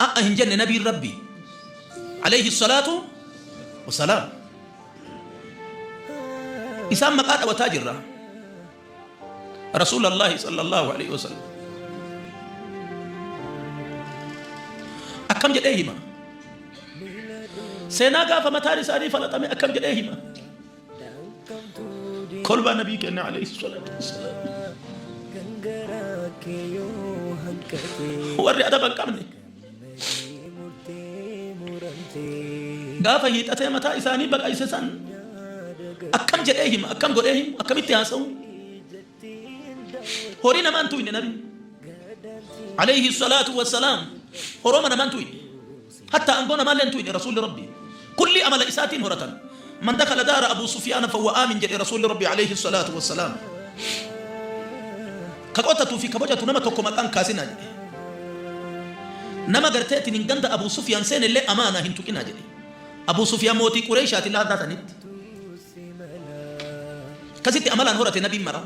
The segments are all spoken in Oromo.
A'a hin jenne nabiin rabbii Aleeyhi salaatu wasalaam Isaan maqaa dhawataa jirra Rasuula Allaahi sallallahu Aleeyhi wasallam Akkam jedhee hima Seenaa gaafa mataan isaanii falaxame akkam jedhee hima Kolbaa nabii kennaa alayhi salatu wassalam. Warri adaba hin qabne. Gaafa hiixatee mataa isaanii baqayse san akkam jedhee hima akkam godhee himu akkamitti haasa'u horii namaan tuyne nabi alayhi salaatu wassalaam horoma namaan tuyne Hattaa angoo namaallee hin tuuyne Rasuulli Rabbii. Kullii amala isaatiin horatan. Man dakhala daara Abuu Sufyaana fahuwa aamin jedhe Rasuulli Rabbii aleyhi salaatu wa salaam. Ka qotatu fi ka bocatu nama tokko maqaa hin kaasinaa jedhe. Nama gartee tinin ganda Abuu Sufyaan seenellee amaanaa hin tuqinaa jedhe. Abuu Sufyaan mootii Qureeyshaati laadhaa tanitti. Akkasitti amalaan horate nabiin mara.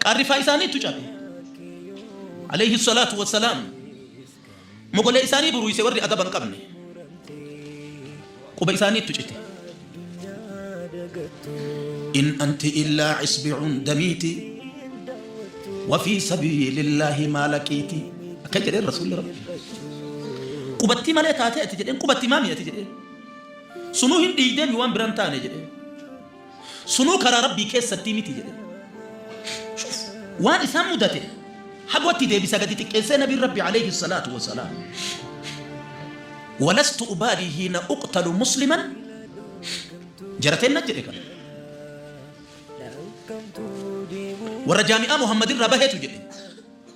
Qaarrifaa isaaniitu cabe. Alayhi salaatu wassalaam. Mogolee isaanii buruise warri adaba hin qabne. Quba isaaniitu cite. In anti illaa isbi'un damiiti. Wafii sabiilillaahi maalaqiiti. Akka jedheen rasuulli rabbi. Qubattii malee taatee ati jedheen qubatti maami ati jedheen. Sunuu hin dhiiydee mi waan biran taane jedheen. Sunuu karaa rabbii keessattii miti jedheen. Shuf waan isaan mudate hagootti deebisa gadi xiqqeessee nabiin rabbi alayhi salaatu wasalaam. Walastu ubaadii hiina uqtalu musliman jarateen na jedhe kana. Warra jaami'aa Muhammadin irraa baheetu jedhe.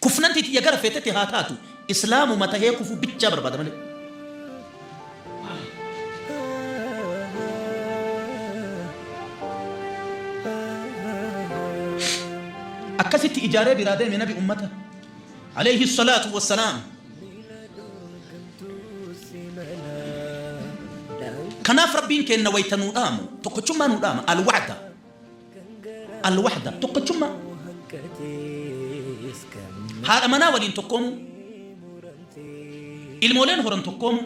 Kufnanti tiyya gara feetetti haa taatu Islaamuma tahee kufuu bichaa barbaada malee. Akkasitti ijaaree biraa deeme nabi ummata. Alayhi salaatu wassalaam. Kanaaf rabbiin keenna wayta nuu dhaamu tokkochummaa nuu dhaama al-wa'da. Alwahda tokkochummaa. Haadha manaa waliin tokkoomuu. Ilmooleen horan tokkoomuu.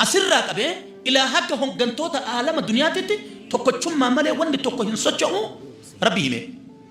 Asirraa qabee ilaa hanga hoggantoota aalama duniyaatitti tokkochummaa malee wanni tokko hin socho'u rabbi himee.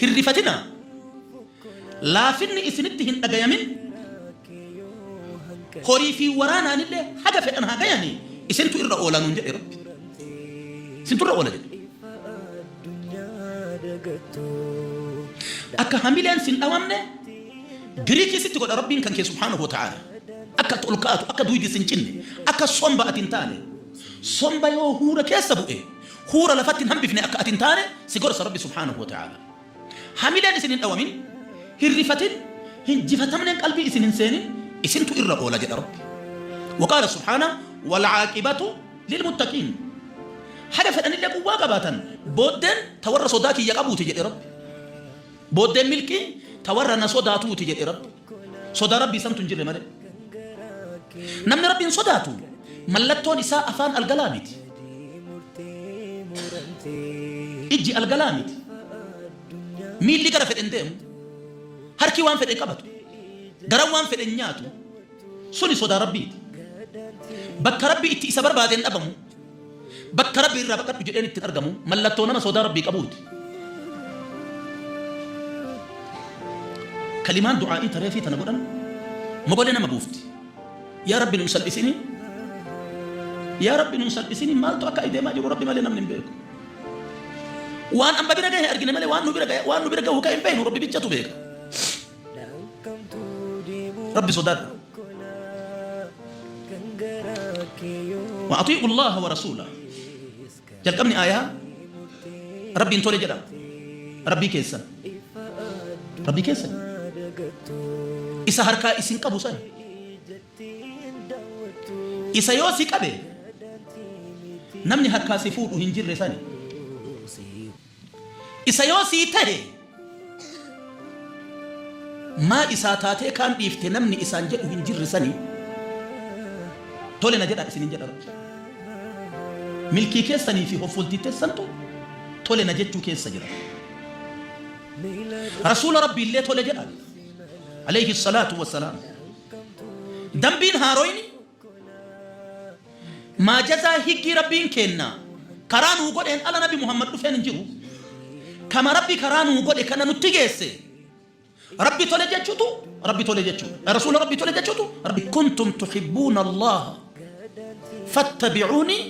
Hin rifatinaa, laafinni isinitti hin dhagayamin, horii fi waraanaanillee haga fedhan haa gayanii, isintu irra oola nuun jedhe Rabbi. Isintu irra oola jedhe. Akka hamileen sin dhawamne biriikii sitti godha Rabbiin kan kee subhaanahu wa ta'aala. Akka ati ol kaatu, akka duydi sin cinne, akka somba ati hin taane. Somba yoo huura keessa bu'e, Huura lafatti hin hambifne akka ati hin taane si gorsa Rabbi subhaanahu wa ta'aala. Hamileen isin hin dhawamin, hin rifatin, hin jifatamneen qalbii isin hin seenin isintu irra oola jedha Rabbi. Waqaala subhaana walcaaqibatu lilmuttaqiin. Haga fedhanillee quwwaa qabaatan booddeen ta warra sodaa kiyya qabuuti jedhe Rabbi. Booddeen milkii ta warra na sodaatuuti jedhe Rabbi. Sodaa Rabbii santu hin jirre malee. Namni Rabbiin sodaatu mallattoon isaa afaan algalaa miti. Ijji algalaa miti. Miilli gara fedhe hin deemu. Harki waan fedhe hin qabatu. Garan waan fedhe hin nyaatu. Suni sodaa Rabbiiti. Bakka Rabbi itti isa barbaadeen dhabamu. Bakka Rabbi irraa baqadhu jedheen itti hin argamu, mallattoo nama sodaa Rabbii qabuuti. Kalimaan du'aa'ii ta reefii tana godhan mogolee nama buufti. Yaa Rabbi nun salphisinii, yaa Rabbi nun salphisinii maaltu akka ayi deemaa jiru Rabbi malee namni hin beeku. Waan amma bira gahe argine malee waan nu bira gahe waan nu bira gahu ka hin beeknu Rabbi bichatu beeka. Rabbi sodaadha. Wa atii'u Allaha wa rasuula. Jalqabni aayaa Rabbiin tole jedha. Rabbii keessan. Rabbii keessan. Isa harkaa isin qabu san. Isa yoo si qabe namni harkaa si fuudhu hin jirre sani. Isa yoo sii tahe maa isaa taatee kaan dhiifte namni isaan jedhu hin jirre sani tole na jedha isinin jedha rabbi milkii keessanii fi hoffoltii teessantu tole na jechuu keessa jira rasuula rabbi illee tole jedhan alayhi salaatu wassalaam dambiin haaroyni Maa jazaa higgii Rabbiin keenna karaa nuu godheen ala nabi Muhammad dhufeen hin jiru. Kama Rabbi karaa nuu godhe kana nutti geesse Rabbi tole jechutu Rabbi tole jechu. Rasuula Rabbi tole jechutu Rabbi. Kuntum tuhibbuuna Allaha fattabi'uunii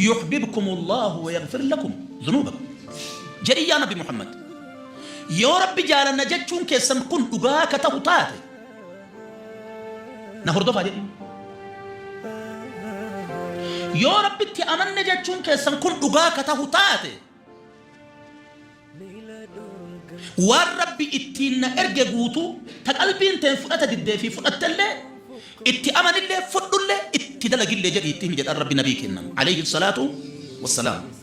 yuhbibkum Allahu wa yaghfir lakum dhunuubakum. Jedhi yaa nabi Muhammad. Yoo Rabbi jaalanna jechuun keessan kun dhugaa ka tahu taate Na hordofaa jedhi. Yoo Rabbitti amanne jechuun keessan kun dhugaa ka tahu taate, waan Rabbi ittiin na erge guutuu ta qalbiin teen fudhata diddee fi fudhattellee, itti amanillee, fudhullee, itti dalagillee jedhii itti himi jedhan Rabbi Nabii keenna, aleyhi salaatu wassalaam.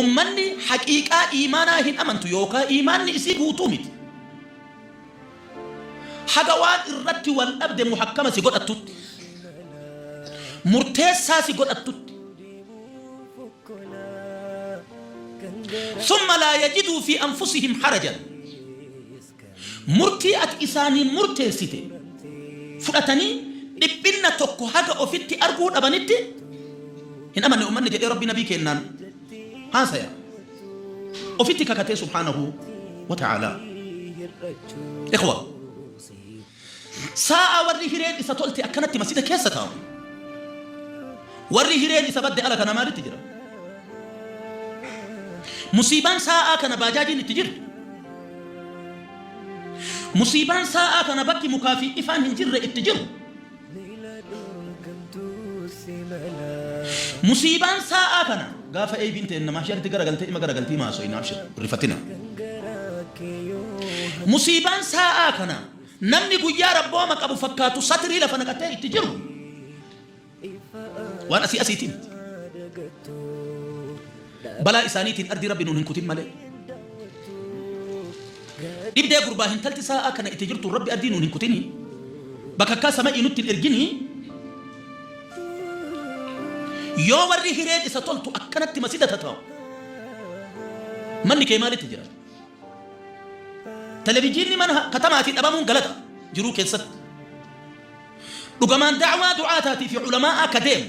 Ummanni haqiiqaa iimaanaa hin amantu yookaa iimaanni isii guutuu miti. Haga waan irratti wal dhabde muhakkama si godhattutti, murteessaa si godhattutti. Summa laa yajiduu fii anfusihim harajan. Murtii ati isaaniin murteessite fudhatanii dhiphinna tokko haga ofitti arguu dhabanitti hin amanne ummanni jedhee Rabbi Nabii keennaan haasaya ofitti kakatee subhaanahu wa ta'aalaa. Ikhwa! Saa'a warri hireen isa tolte akkanatti masjida keessa taa'u, warri hireen isa badde ala kana maalitti jira? Musiibaan saa'aa kana baajaajiin itti jirtu, musiibaan saa'aa kana bakki mukaa fi ifaan hin jirre itti jiru, Musiibaan saa'aa kana gaafa ABn teenna mahsharitti garagaltee ima garagalti hima haasoyna abshir hin rifatina. Musiibaan saa'aa kana namni guyyaa rabbooma qabu fakkaatu satirii lafa naqatee itti jiru waan asii asiitii miti. Balaa isaaniitiin ardii Rabbi nuun hin kutin malee. Dhibdee gurbaa hintalti saa'aa kana itti jirtuun Rabbi ardii nuun hin kutinii. Bakakkaa sama'ii nutti hin erginii. Yoo warri hireen isa toltu akkanatti masida tata'u manni kee maalitti jira? Televijiinni mana katamaatii dhabamuun galata jiruu keessatti. Dhugamaan da'waa du'aataatii fi ulamaa'aa ka deemu